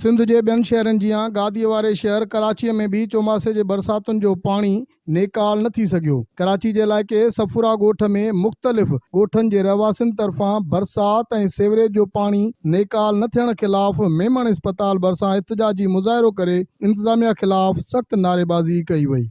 سنڌ جي ٻين شهرن جيان گاديء واري شهر ڪراچيء ۾ به چوماسي جي برساتن جو پاڻي نيڪال نه ٿي سگهيو. ڪراچي جي علائقي صفورا ڳوٺ ۾ مختلف ڳوٺن جي رهواسين طرفان برسات ۽ سيوريج جو پاڻي نيڪال نه ٿيڻ خلاف ميمڻ اسپتال ڀرسان احتجاجي مظاهرو ڪري انتظاميا خلاف سخت نعريبازي ڪئي وئي.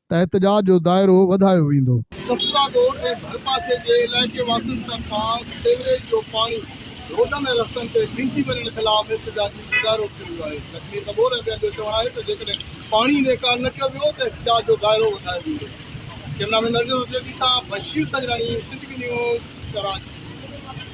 احتجاج جو دائرو وڌايو ويندو. سپرا ڳوٺ ۽ ڀرپاسي جي علائقي واسين طرفان سيوريج جو پاڻي روڊن ۽ رستن تي ڦنڪي وڃڻ خلاف احتجاجي مظاهرو ٿيو ويو آهي. زخمي سڳور ۽ ٻين جو چوڻ آهي ته جيڪڏهن پاڻي نيڪال نه ڪيو ويو ته احتجاج جو دائرو وڌايو ويندو. ڪيمرامين نرجس حسيدي سان بشير سجراڻي، سنڌ وي نيوز، ڪراچي.